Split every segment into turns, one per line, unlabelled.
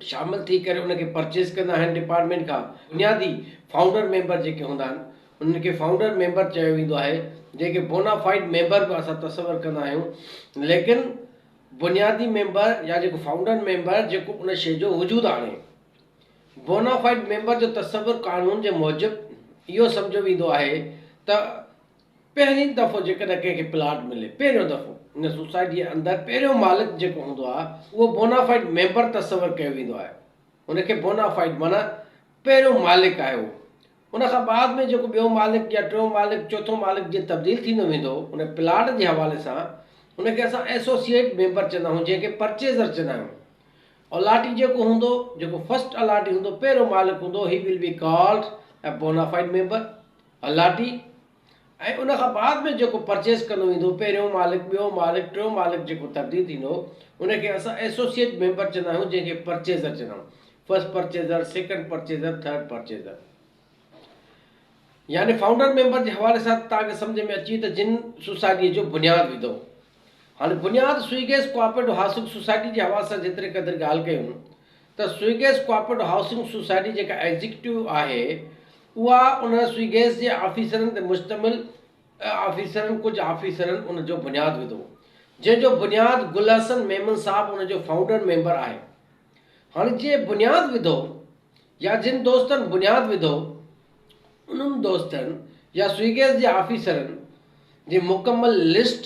شامل ٿي ڪري ان کي پرچيز ڪندا آهن ڊپارٽمينٽ کان بنيادي فائونڊر ميمبر جيڪي هوندا آهن انهن کي فائونڊر ميمبر چيو ويندو آهي جيڪي بونافائيڊ ميمبر به اسان تصور ڪندا آهيون ليڪن بنيادي ميمبر يا جيڪو فائونڊر ميمبر جيڪو ان شي جو وجود آڻي بونافائيڊ ميمبر جو تصور قانون جي موجب اهو سمجهيو ويندو آهي ته پهرين دفعو جيڪڏهن ڪنهن کي پلاٽ ملي، پهريون دفعو، ان سوسائٽيء جي اندر پهريون مالڪ جيڪو هوندو آهي، اهو بونافائيڊ ميمبر تصور ڪيو ويندو آهي. ان کي بونافائيڊ معنيٰ پهريون مالڪ آهي اهو. ان کان بعد ۾ جيڪو ٻيو مالڪ يا ٽيون مالڪ، چوٿون مالڪ جيئن تبديل ٿيندو ويندو، ان پلاٽ جي حوالي سان، ان کي اسان ايسوسيئيٽ ميمبر چوندا آهيون، جنهن کي پرچيزر چوندا آهيون. الاٽي جيڪو هوندو، جيڪو فرسٽ الاٽي هوندو، پهريون مالڪ هوندو، he will be called a bonafide member. Allottee ۽ ان کان بعد ۾ جيڪو پرچيز ڪندو ويندو پهريون مالڪ ٻيو مالڪ ٽيون مالڪ جيڪو تبديل ٿيندو ان کي اسان ايسوسيئيٽ ميمبر چوندا آهيون جنهن کي پرچيزر چوندا آهيون first purchaser second purchaser third purchaser يعني فائونڊر ميمبر جي حوالي سان توهان کي سمجهه ۾ اچي ته جن سوسائٽي جو بنياد وڌو هن بنياد Sui gas cooperative housing society جي حوالي سان جيتري قدر ڳالهه ڪيون ته Sui gas cooperative housing society جيڪا ايگزيڪيوٽو آهي اها ان سوئي گيس جي آفيسرن تي مشتمل آفيسرن ڪجهه آفيسرن ان جو بنياد وڌو جنهن جو بنياد گل حسن ميمڻ صاحب ان جو فائونڊر ميمبر آهي هن جنهن بنياد وڌو يا جن دوستن بنياد وڌو، انهن دوستن يا سوئي گيس جي آفيسرن جي مڪمل لسٽ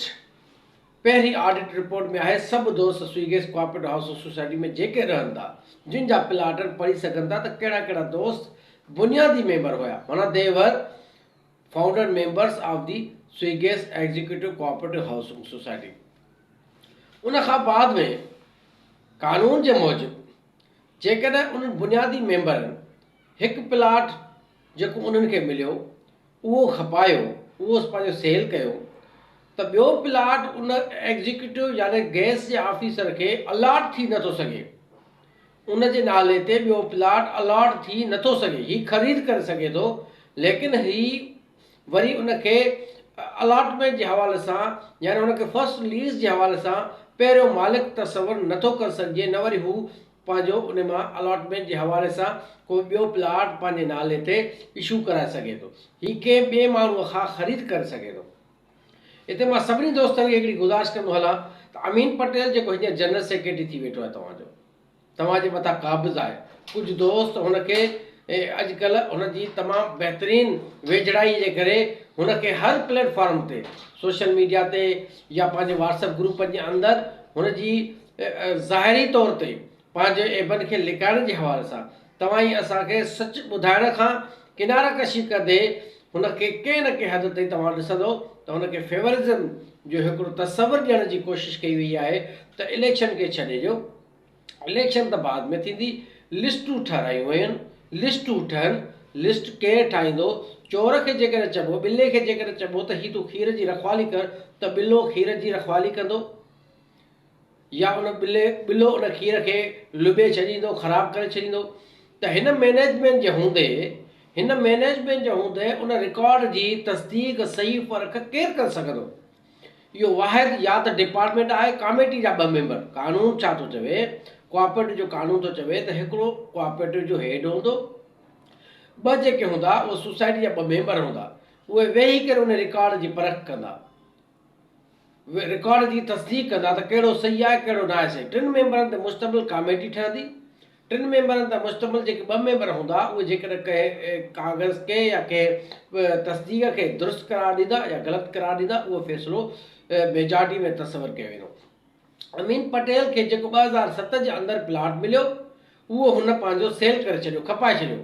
پهرين آڊٽ رپورٽ ۾ آهي. سڀ دوست Sui gas cooperative housing society ۾ جيڪي رهن ٿا، جن جا پلاٽن پڙهي سگهن ٿا ته ڪهڙا ڪهڙا دوست بنيادي ميمبر هيا معنيٰ ديور، founder members of the Sui gas executive cooperative housing society. ان کان بعد ۾ قانون جي موجب جيڪڏهن انهن بنيادي ميمبرن هڪ پلاٽ جيڪو انهن کي مليو اهو کپايو اهو پنهنجو سيل ڪيو ته ٻيو پلاٽ ان ايگزيڪيوٽو يعني گيس جي آفيسر کي الاٽ ٿي نٿو سگهي. ان جي نالي تي ٻيو پلاٽ الاٽ ٿي نه ٿو سگهي، هي خريد ڪري سگهي ٿو ليڪن هي وري ان کي الاٽمينٽ جي حوالي سان يعني ان کي فرسٽ ليز جي حوالي سان پهريون مالڪ تصور نه ٿو ڪري سگهجي نه وري هو پنهنجو ان مان الاٽمينٽ جي حوالي سان ڪو ٻيو پلاٽ پنهنجي نالي تي اشو ڪرائي سگهي ٿو، هي ڪنهن ٻئي ماڻهو کان خريد ڪري سگهي ٿو. هتي مان سڀني دوستن کي هڪڙي گذارش ڪندو هلان ته امين پٽيل جيڪو هينئر جنرل سيڪريٽري ٿي ويٺو آهي توهان جو توهان جي مٿان قابض آهي ڪجهه دوست هن کي اڄ ڪلهه هن جي تمام بهترين ويجهڙائي جي ڪري هن کي هر پليٽ فارم تي سوشل ميڊيا تي يا پنهنجي واٽس اپ گروپن جي اندر هن جي ظاهري طور تي پنهنجي عيبن کي لڪائڻ جي حوالي سان توهان ئي اسان کي سچ ٻڌائڻ کان ڪناره ڪشي ڪندي هن کي ڪنهن نه ڪنهن حد تائين توهان ڏسندو ته هن کي فيورزم جو هڪڙو تصور ڏيڻ جي ڪوشش ڪئي وئي آهي ته اليڪشن کي ڇڏي ڏيو اليڪشن ته بعد ۾ ٿيندي لسٽون ٺهرايون وين لسٽون ٺهن لسٽ ڪير ٺاهيندو چور کي جيڪڏهن چئبو ٻلي کي جيڪڏهن چئبو ته هي تون کير جي رکوالي ڪر ته ٻلو کير جي رکوالي ڪندو يا ان ٻلي ٻلو ان کير کي لٻي ڇڏيندو خراب ڪري ڇڏيندو ته هن مئنيجمينٽ جي هوندي هن مئنيجمينٽ جي هوندي ان رڪارڊ جي تصديق صحيح پرک ڪير ڪري سگهندو اهو واحد يا ته ڊپارٽمينٽ آهي ڪاميٽي جا ٻه ميمبر قانون ڇا ٿو چوي ڪوآپريٽو جو قانون ٿو چوي ته هڪڙو ڪوآپريٽو جو هيڊ هوندو ٻه جيڪي هوندا اهي سوسائٽي جا ٻه ميمبر هوندا اهي ويهي ڪري ان رڪارڊ جي پرک ڪندا رڪارڊ جي تصديق ڪندا ته ڪهڙو صحيح آهي ڪهڙو ناهي صحيح. ٽن ميمبرن تي مشتمل ڪاميٽي ٺهندي. ٽن ميمبرن تي مشتمل جيڪي ٻه ميمبر هوندا اهي جيڪڏهن ڪنهن ڪاغذ کي يا ڪنهن به تصديق کي درست قرار ڏيندا يا غلط قرار ڏيندا اهو فيصلو ميجارٽي ۾ تصور ڪيو ويندو. امين پٽيل کي جيڪو ٻه هزار ست جي اندر پلاٽ مليو اهو هن پنهنجو سيل ڪري ڇڏيو کپائي ڇڏيو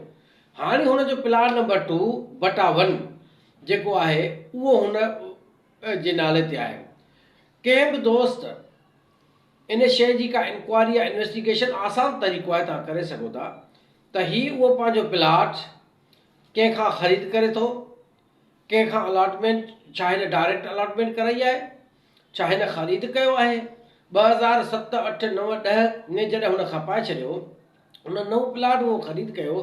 هاڻي هن جو پلاٽ نمبر ٽو بٽا ون جيڪو آهي اهو هن جي نالي تي آهي. ڪنهن به دوست ان شيء جي ڪا انڪوائري يا انويسٽيگيشن آسان طريقو آهي توهان ڪري سگهو ٿا ته هي اهو پنهنجو پلاٽ ڪنهن کان خريد ڪري ٿو ڪنهن کان الاٽمينٽ ڇا هن ڊائريڪٽ الاٽمينٽ ڪرائي آهي ڇا هن خريد ڪيو آهي ٻه هزار ست اٺ نو ڏهه ۾ جڏهن هن کپائي ڇڏيو هن نئون پلاٽ اهو خريد ڪيو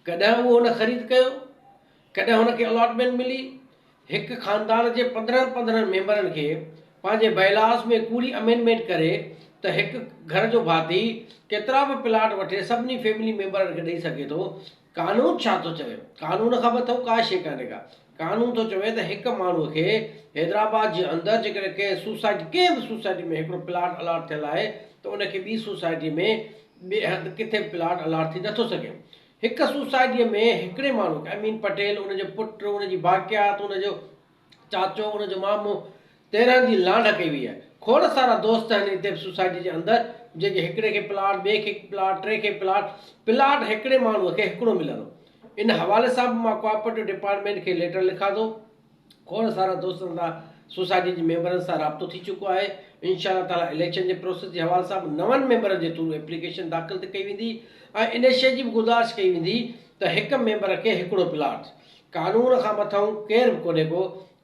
ڪڏهن اهو هن خريد ڪيو ڪڏهن هن کي الاٽمينٽ ملي، هڪ خاندان جي پندرهن پندرهن ميمبرن کي پنهنجي بئلاس ۾ ڪوڙي امينڊمينٽ ڪري ته هڪ گهر جو ڀاتي ڪيترا به پلاٽ وٺي سڀني فيملي ميمبرن کي ڏئي سگهي ٿو، قانون ڇا ٿو چوي؟ قانون کان مٿو ڪا شيء ڪانهي ڪا. قانون ٿو چوي ته هڪ ماڻهوء کي حيدرآباد جي اندر جيڪڏهن ڪنهن سوسائٽي ڪنهن به سوسائٽي ۾ هڪڙو پلاٽ الاٽ ٿيل آهي ته ان کي ٻي سوسائٽي ۾ ٻئي هنڌ ڪٿي به پلاٽ الاٽ ٿي نٿو سگهي. هڪ سوسائٽيء ۾ هڪڙي ماڻهوء کي، امين پٽيل، ان جو پٽ، ان جي باقيات، ان جو چاچو، ان جو مامو، تيرهن جي لانڍ ڪئي ويئي آهي. کوڙ سارا دوست آهن هتي به سوسائٽيء جي اندر، جيڪي هڪڙي کي پلاٽ، ٻئي کي هڪ پلاٽ، ٽئين کي پلاٽ، پلاٽ هڪڙي ماڻهوء کي هڪڙو ملندو. ان حوالي سان به مان ڪوآپريٽو ڊپارٽمينٽ کي ليٽر لکان ٿو. کوڙ سارا دوستن سان سوسائٽي جي ميمبرن سان رابطو ٿي چڪو آهي، انشاء الله تعاليٰ اليڪشن جي پروسيس جي حوالي سان به نون ميمبرن جي ٿرو ايپليڪيشن داخل ته ڪئي ويندي ۽ ان شيء جي به گذارش ڪئي ويندي ته هڪ ميمبر کي هڪڙو پلاٽ، قانون کان مٿئون ڪير به ڪونهي ڪو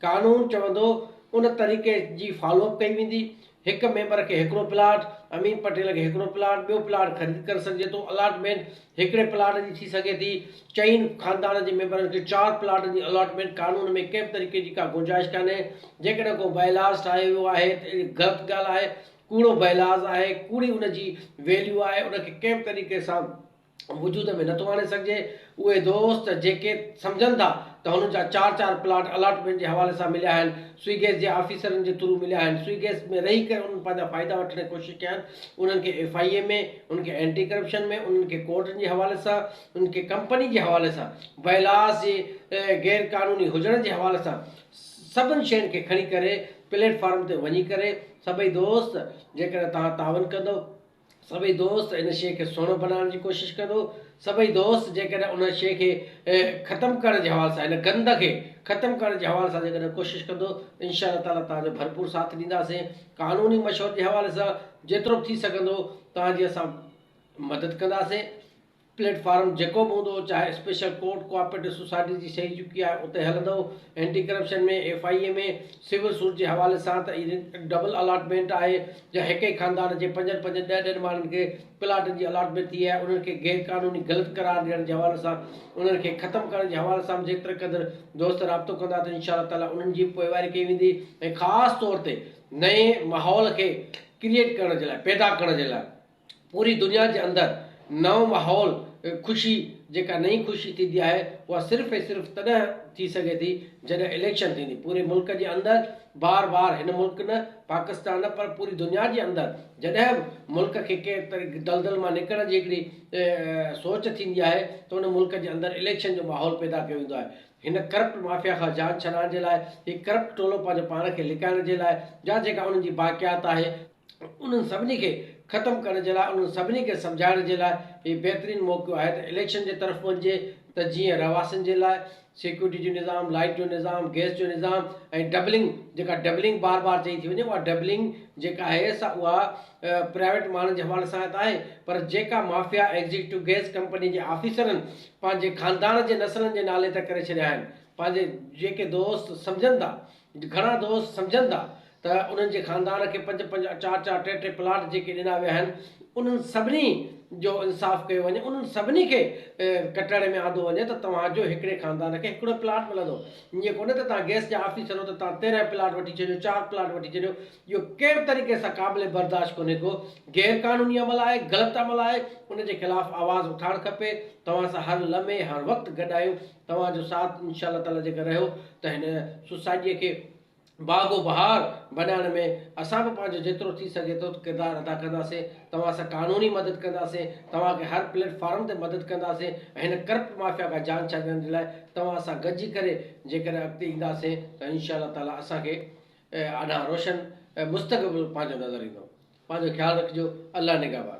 قانون چوندو ان طريقي جي فالو اپ ڪئي ويندي، هڪ ميمبر کي هڪڙو پلاٽ، امين پٽيل کي هڪڙو پلاٽ، ٻيو پلاٽ خريد ڪري سگهجي ٿو، الاٽمينٽ هڪڙي پلاٽ جي ٿي سگهي ٿي، چئن خاندان جي ميمبرن کي چار پلاٽن جي الاٽمينٽ قانون ۾ ڪنهن به طريقي جي ڪا گنجائش ڪانهي، جيڪڏهن ڪو بائيلاز ٺاهيو ويو آهي ته اهڙي غلط ڳالهه آهي، ڪوڙو بائيلاز آهي، ڪوڙي ان جي ويليو آهي، ان کي ڪنهن به طريقي سان. وجود ۾ نٿو آڻي سگهجي، اهي دوست جيڪي سمجهن ٿا ته هنن جا چار چار پلاٽ الاٽمينٽ جي حوالي سان مليا آهن، سوئي گيس جي آفيسرن جي ٿرو مليا آهن، سوئي گيس ۾ رهي ڪري انهن پنهنجا فائدا وٺڻ جي ڪوشش ڪيا آهن، انهن کي ايف آئي اي ۾، انهن کي اينٽي ڪرپشن ۾، انهن کي ڪورٽن جي حوالي سان، انهن کي ڪمپني جي حوالي سان، ويلاز جي غير قانوني هجڻ جي حوالي سان سڀن شين کي کڻي ڪري پليٽ فارم تي وڃي ڪري سڀئي دوست جيڪڏهن توهان تعاون ڪندو سڀئي دوست ان شيء کي سهڻو بنائڻ جي ڪوشش ڪندو. سڀئي دوست جيڪڏهن ان شيء کي ختم ڪرڻ جي حوالي سان هن گند کي ختم ڪرڻ جي حوالي سان جيڪڏهن ڪوشش ڪندو ته انشاء الله تعاليٰ توهان جو ڀرپور ساٿ ڏينداسين. قانوني مشوري جي حوالي سان جيترو به ٿي سگهندو توهان جي اسان مدد ڪنداسين. پليٽ فارم جيڪو به هوندو چاهي اسپيشل ڪورٽ ڪوآپريٽو سوسائٽي جي سهي چڪي آهي اتي هلندو anti corruption ۾ F I A ۾ civil suit جي حوالي سان ته اهي ڊبل الاٽمينٽ آهي جا هڪ ئي خاندان جي پنجن پنجن ڏهه ڏهن ماڻهن کي پلاٽن جي الاٽمينٽ ٿي آهي انهن کي غير قانوني غلط قرار ڏيڻ جي حوالي سان انهن کي ختم ڪرڻ جي حوالي سان به جيتري قدر دوست رابطو ڪندا ته انشاء الله تعالي انهن جي پوئواري ڪئي ويندي ۽ خاص طور تي نئين ماحول کي ڪريئيٽ ڪرڻ جي لاء پيدا ڪرڻ جي لاء پوري دنيا جي اندر نئون ماحول خوشي جيڪا نئين خوشي ٿيندي آهي اها صرف ۽ صرف تڏهن ٿي سگهي ٿي جڏهن اليڪشن ٿيندي پوري ملڪ جي اندر بار بار هن ملڪ نه پاڪستان نه پر پوري دنيا جي اندر جڏهن به ملڪ کي ڪنهن دلدل مان نڪرڻ جي هڪڙي سوچ ٿيندي آهي ته ان ملڪ جي اندر اليڪشن جو ماحول پيدا ڪيو ويندو آهي هن ڪرپٽ مافيا کان جان ڇڏائڻ جي لاء هي ڪرپٽ ٽولو پنهنجو پاڻ کي لڪائڻ جي لاء جا جيڪا انهن جي باقيات آهي انهن سڀني کي ختم ڪرڻ جي لاء انهن سڀني کي سمجهائڻ جي لاء هي بهترين موقعو آهي ته اليڪشن جي طرف وڃجي ته جيئن رهواسين جي لاء سيڪيورٽي جو نظام لائيٽ جو نظام گئس جو نظام ۽ ڊبلنگ جيڪا ڊبلنگ بار بار چئي ٿي وڃي اها ڊبلنگ جيڪا آهي سا اها پرائيويٽ ماڻهن جي حوالي سان ته آهي پر جيڪا مافيا ايگزيڪٽو گئس ڪمپني جي آفيسرن پنهنجي خاندان جي نسلن جي نالي ته ڪري ڇڏيا آهن پنهنجي جيڪي دوست سمجهن ٿا گهڻا دوست سمجهن ٿا ته انهن جي خاندان کي پنج پنج، چار چار، ٽي ٽي پلاٽ جيڪي ڏنا ويا آهن انهن سڀني جو انصاف ڪيو وڃي انهن سڀني کي ڪٽهڙي ۾ آندو وڃي ته توهان جو هڪڙي خاندان کي هڪڙو پلاٽ ملندو ائين ڪونهي ته توهان گيس جا آفيسر هو ته توهان تيرنهن پلاٽ وٺي ڇڏيو چار پلاٽ وٺي ڇڏيو اهو ڪنهن به طريقي سان قابل برداشت ڪونهي ڪو غير قانوني عمل آهي غلط عمل آهي ان جي خلاف آواز اٿارڻ کپي توهان سان هر لمحي هر وقت گڏ آهيون. توهان جو ساٿ انشاء الله تعالٰي جيڪر رهيو ته هن سوسائٽيء کي باغ و بهار بنائڻ ۾ اسان به پنهنجو جيترو ٿي سگهي ٿو ڪردار ادا ڪنداسين، توهان سان قانوني مدد ڪنداسين، توهان کي هر پليٽ فارم تي مدد ڪنداسين ۽ هن ڪرپٽ مافيا کان جان ڇڏائڻ جي لاء توهان سان گڏجي ڪري جيڪڏهن اڳتي اينداسين ته انشاء الله تعالٰي اسان کي اڏانهن روشن مستقبل پنهنجو نظر ايندو. پنهنجو خيال رکجو. الله نگهبان.